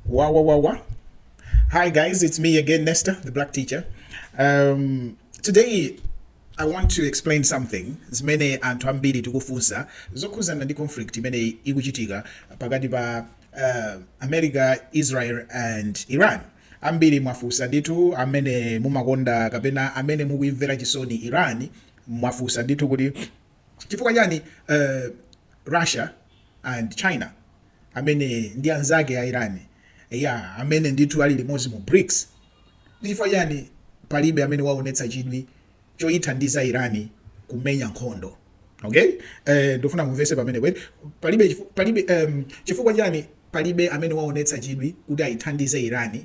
Wow, wow, wow, wow. Hi, guys, it's me again, Nesta, the black teacher. Um, today, I want to explain something zimene anthu ambiri tikufunsa zokhuzana ndi conflict imene ikuchitika pakati pa uh, America, Israel and Iran. Ambiri mwafunsa ndithu amene mumakonda kapena amene mukuimvera chisoni Iran mwafunsa ndithu kuti Chifukwa chani uh, Russia and China amene ndi anzake a Iran ya amene ndithu ali limodzi mu BRICS, ndi chifukwa chani palibe amene waonetsa chidwi choyithandiza Iran kumenya nkhondo? Okay, eh, ndofuna mumvese pamenepo eti palibe, palibe um, chifukwa chani palibe amene waonetsa chidwi kuti ayithandize Iran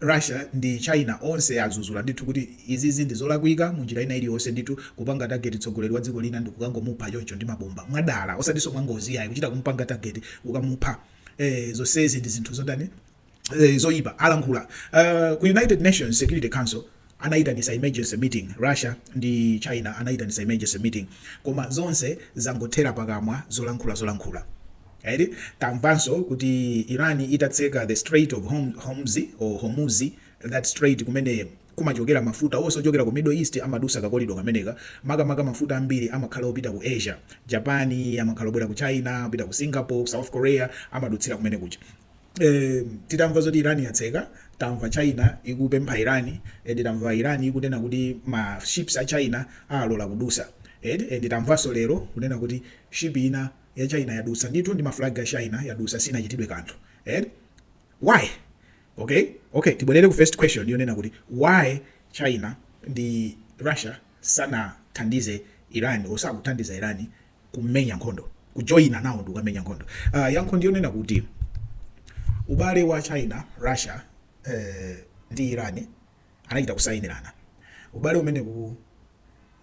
Russia ndi China onse azuzula ndithu kuti izizi ndi zolakwika munjira ina iliyonse ndithu kupanga target tsogoleri wa dziko lina ndikukangomupha choncho ndi mabomba mwadala osatinso mwangozi iyayi kuchita kumupanga target kukamupha ee zonsezi ndi zinthu zotani zoyipa alankhula ku United Nations Security Council anaitanisa emergency meeting, Russia ndi China anaitanisa emergency meeting koma zonse zangothera pakamwa zolankhula zolankhula eti. Tamvanso kuti Iran itatseka the strait of Hormuz or Hormuz that strait kumene kumachokera mafuta onse ochokera ku middle east amadusa ka kolido kameneka makamaka mafuta ambiri amakhala opita ku Asia, Japan amakhala obwera ku China, opita ku Singapore, South Korea amadutsira kumene kuja. eh, titamva zoti iran yatseka tamva china ikupempha iran eh, tamva iran ikunena kuti ma ships a china alola kudusa eh, eh, tamvanso lero kunena kuti ship ina ya china yadusa ndithu ndi maflag a china yadusa sinachitidwe kanthu eh? why okay okay tibwerere ku first question yonena kuti why china ndi russia sanathandize iran osakuthandiza iran kumenya nkhondo kujoyina nawo ndi kukamenya nkhondo uh, yankho ndiyonena kuti ubale wa china russia eh, ndi iran anachita kusayinirana ubale umenewu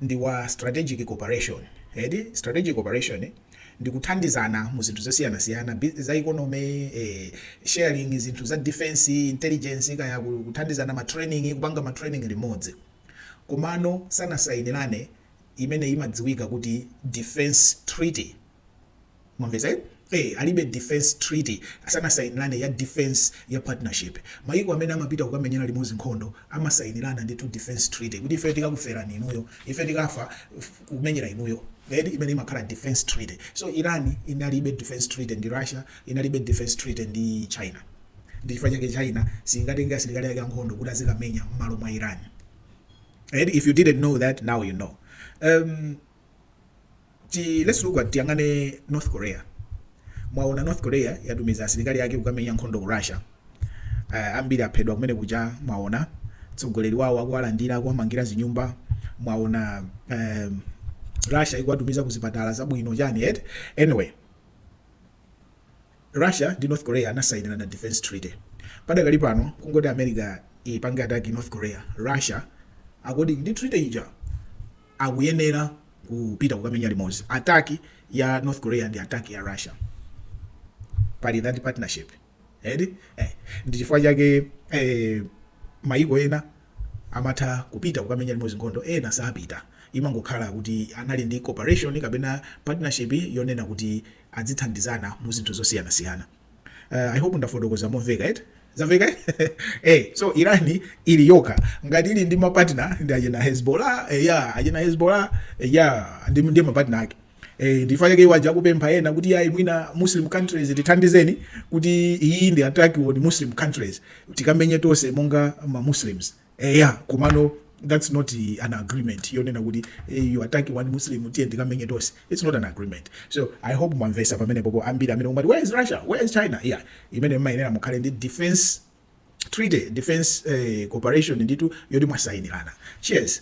ndi wa strategic cooperation eti strategic cooperation ndi kuthandizana mu zinthu zosiyanasiyana bi- za economy eh, sharing zinthu za defense intelligence kaya ku- kuthandizana ma training kupanga ma training limodzi komano sanasayinirane imene imadziwika kuti Defense Treaty. Mwamvetsa? Eh, alibe Defense Treaty. Sanasainirane ya Defense ya Partnership. Mayiko amene amapita kukamenyera limodzi nkhondo amasainirana ndithu Defense Treaty kuti ife tikakufera inuyo, ife tikafa kumenyera inuyo. Eti imene imakhala Defense Treaty. So Iran inalibe Defense Treaty ndi Russia, inalibe Defense Treaty ndi China. Ndi chifukwa chake China singatenge asilikali ake ankhondo kuti azikamenya m'malo mwa Iran. And if you didn't know that, now you know. Um, ti, let's look at tiyang'ane North Korea. Mwaona North Korea yatumiza asilikali ake kukamenya nkhondo ku Russia. Uh, ambiri aphedwa kumene kuja mwaona mtsogoleri wawo akuwalandira akuwamangira zinyumba mwaona um, Russia ikuwatumiza ku zipatala zabwino chani eti anyway Russia ndi North Korea anasainirana defense treaty. Padakali pano kungoti America ipange attack North Korea, Russia according to treaty ija akuyenera kupita kukamenya limodzi. Attack ya North Korea ndi attack ya Russia. Pali that partnership. Eti? Eh. Ndi chifukwa chake eh, mayiko ena amatha kupita kukamenya limodzi nkhondo, ena sapita. Imangokhala kuti anali ndi cooperation kapena partnership yonena kuti adzithandizana mu zinthu zosiyanasiyana uh, i hope ndafotokoza momveka eti zamveka eh so iran ili yokha ngati ili ndi mapartner ndi ajena hezbollah eh, ya ajena hezbollah eh, ya ndiye ndi mapartner ake eh ndi chifukwa chake uja akupempha ena kuti iyayi mwina muslim countries tithandizeni kuti iyi ndi attack on muslim countries tikamenye tonse monga ma muslims Eya komano that's not an agreement yonena kuti you attack one Muslim tiye tikamenye tonse it's not an agreement so I hope mwamvetsa pamenepopo ambiri amene mumati where is Russia where is China yeah imene mumayenera mukhale ndi defense treaty defense eh, cooperation ndithu yoti mwasayinirana cheers